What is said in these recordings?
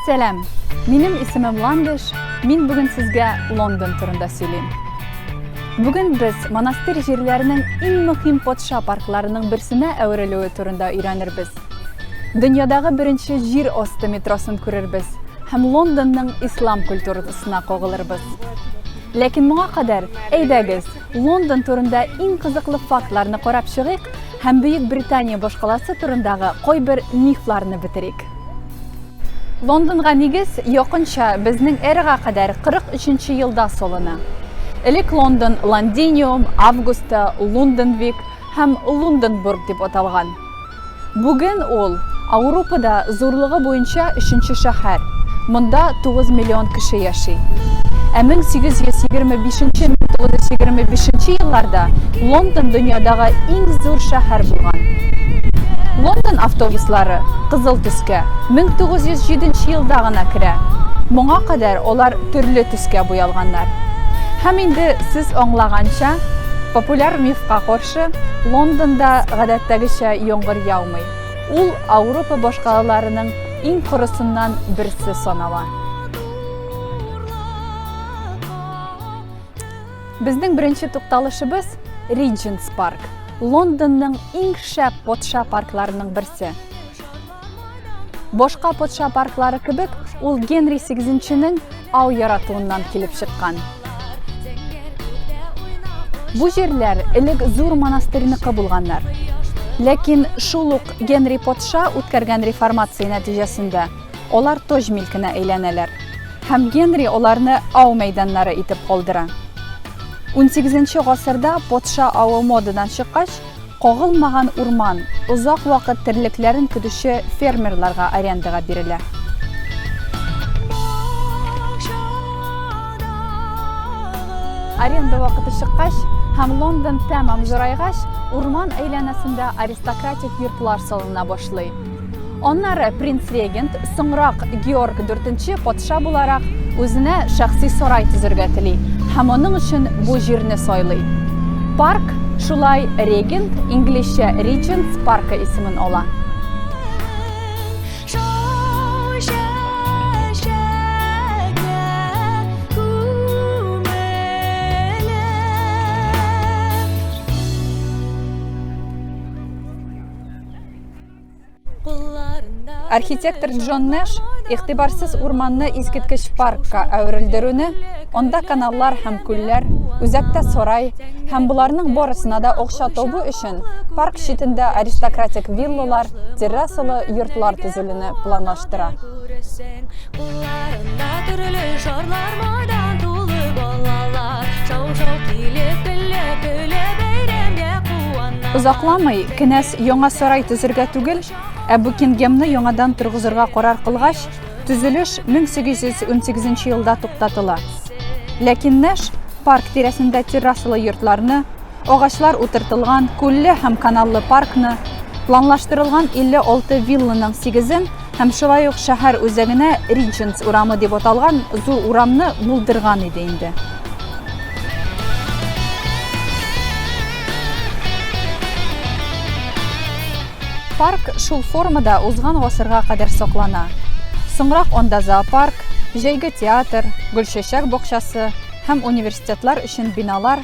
Сәлам! Минем исемем Ландыш, мин бүген сезгә Лондон турында сөйлим. Бүген без монастырь җирләренең иң мөһим патша паркларының берсенә әверелүе турында өйрәнербез. Дөньядагы беренче җир асты метросын күрербез һәм Лондонның ислам культурасына кагылырбыз. Ләкин моңа кадәр, әйдәгез, Лондон турында иң кызыклы фактларны карап чыгыйк һәм Бөек Британия башкаласы турындагы кайбер мифларны бетерик. Лондонга нигез якынча безнең эрага кадәр 43 нче елда салына. Элек Лондон Лондиниум, Августа, Лунденвик һәм Лунденбург дип аталган. Бүген ул, Аурупада зурлыгы буенча өченче шәһәр, монда 9 миллион кеше яши. Ә 1825-1925 елларда Лондон дөньядагы иң зур шәһәр булган. Лондон автобуслары кызыл төскә 1907 елда гына керә, моңа кадәр алар төрле төскә буялганнар. Һәм инде сез аңлаганча, популяр мифка каршы, каршы, Лондонда гадәттәгечә яңгыр яумый. Ул Ауропа башкалаларының иң корысыннан берсе санала. Безнең беренче тукталышыбыз Ридженс парк. Лондонның иң шәп патша паркларының берсе. Башка патша парклары кебек, ул Генри сигезенченең ау яратуыннан килеп чыккан. Бу җирләр элек зур монастырьныкы булганнар. Ләкин шул ук Генри патша үткәргән реформация нәтиҗәсендә алар тож милкенә әйләнәләр. Һәм Генри аларны ау мәйданнары итеп калдыра. 18 гасырда патша авы модадан чыккач, Кагылмаган урман озак вакыт терлекләрен көтүче фермерларга арендага бирелә. Аренда вакыты чыккач һәм Лондон тәмам зурайгач, урман әйләнәсендә аристократик йортлар салына башлый. Аннары принц регент, соңрак Георг IV патша буларак, үзенә шәхси сарай төзергә тели һәм аның өчен бу җирне сайлый. Парк шулай регент, инглизчә Regents паркы исемен ала. Архитектор Джон Нэш игътибарсыз урманны искиткеч паркка әверелдерүне, анда каналлар һәм күлләр, үзәктә сарай һәм боларның барысына да акча табу өчен парк читендә аристократик виллалар, террасалы йортлар төзелүне планлаштыра. Озакламый кенәз яңа сарай төзергә түгел, ә Букингемны яңадан торгызырга карар кылгач, төзелеш 1818 елда туктатыла. Ләкин Нэш парк тирәсендә террасалы йортларны, агачлар утыртылган күлле һәм каналлы паркны, планлаштырылган 56 вилланың 8-ен Һәм шулай ук шәһәр үзәгенә Риченс урамы дип аталган зур урамны булдырган иде инде. Парк шул формада узган гасырга кадәр саклана. Соңрак анда зоопарк, җәйге театр, гөлчәчәк бакчасы һәм университетлар өчен биналар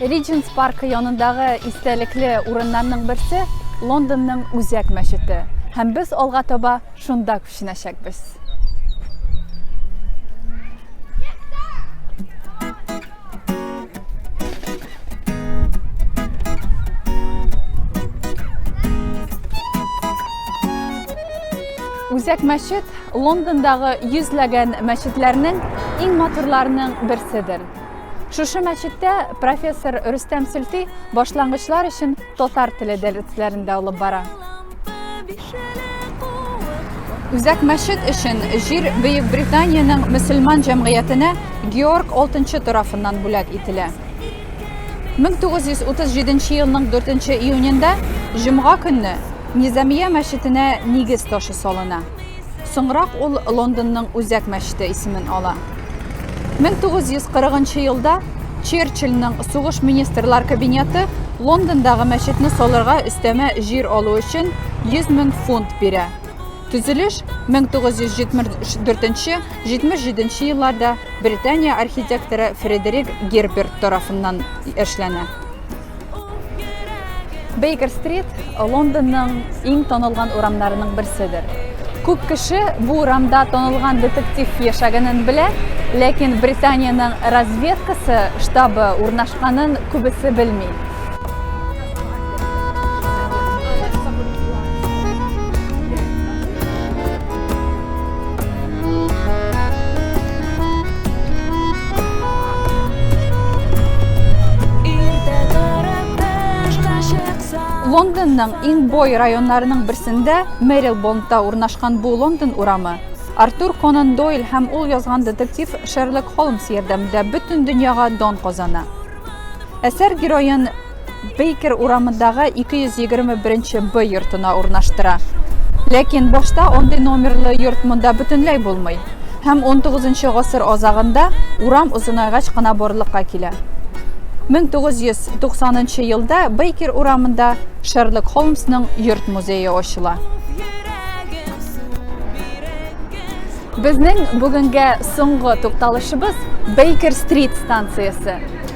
Риджентс паркы янындагы истәлекле урыннарның берсе, Лондонның Үзәк мәчете. Һәм без алга таба шунда күченәчәкбез. Үзәк мәчет Лондондагы йөзләгән мәчетләрнең иң матурларының берседер. Шушы мәчеттә профессор Рөстәм Сөлти башлангычлар өчен татар теле дәресләрен дә алып бара. Үзәк мәчет өчен җир Бөек Британиянең мөселман җәмгыятенә Георг Алтынчы тарафыннан бүләк ителә. 1937 елның 4 июнендә җомга көнне Низамия мәчетенә нигез ташы салына. Соңрак ул Лондонның Үзәк мәчете исемен ала. 1940 елда Черчилльнең сугыш министрлар кабинеты Лондондагы мәчетне салырга өстәмә җир алу өчен 100 мең фунт бирә. Төзелеш 1974-77 елларда Британия архитекторы Фредерик Герберт тарафыннан эшләнә. Бейкер стрит Лондонның иң танылган урамнарының берседер. Күп кеше бу урамда танылган детектив яшәгәнен белә, ләкин Британиянең разведкасы штабы урнашканын күбесе белми. Лондонның иң бой районнарының берсендә Мэрилбондта урнашкан бу Лондон урамы Артур Конан Дойл һәм ул язган детектив Шерлок Холмс ярдәмендә бөтен дөньяга дон казана. Әсәр героен Бейкер урамындагы 221 нче Б йортына урнаштыра. Ләкин башта андый номерлы йорт монда бөтенләй булмый. Һәм 19 нчы гасыр азагында урам озынайгач кына барлыкка килә. 1990 нчы елда Бейкер урамында Шерлок Холмсның йорт музее ачыла. Безнең бүгенгә соңгы тукталышыбыз Бейкер-стрит станциясе.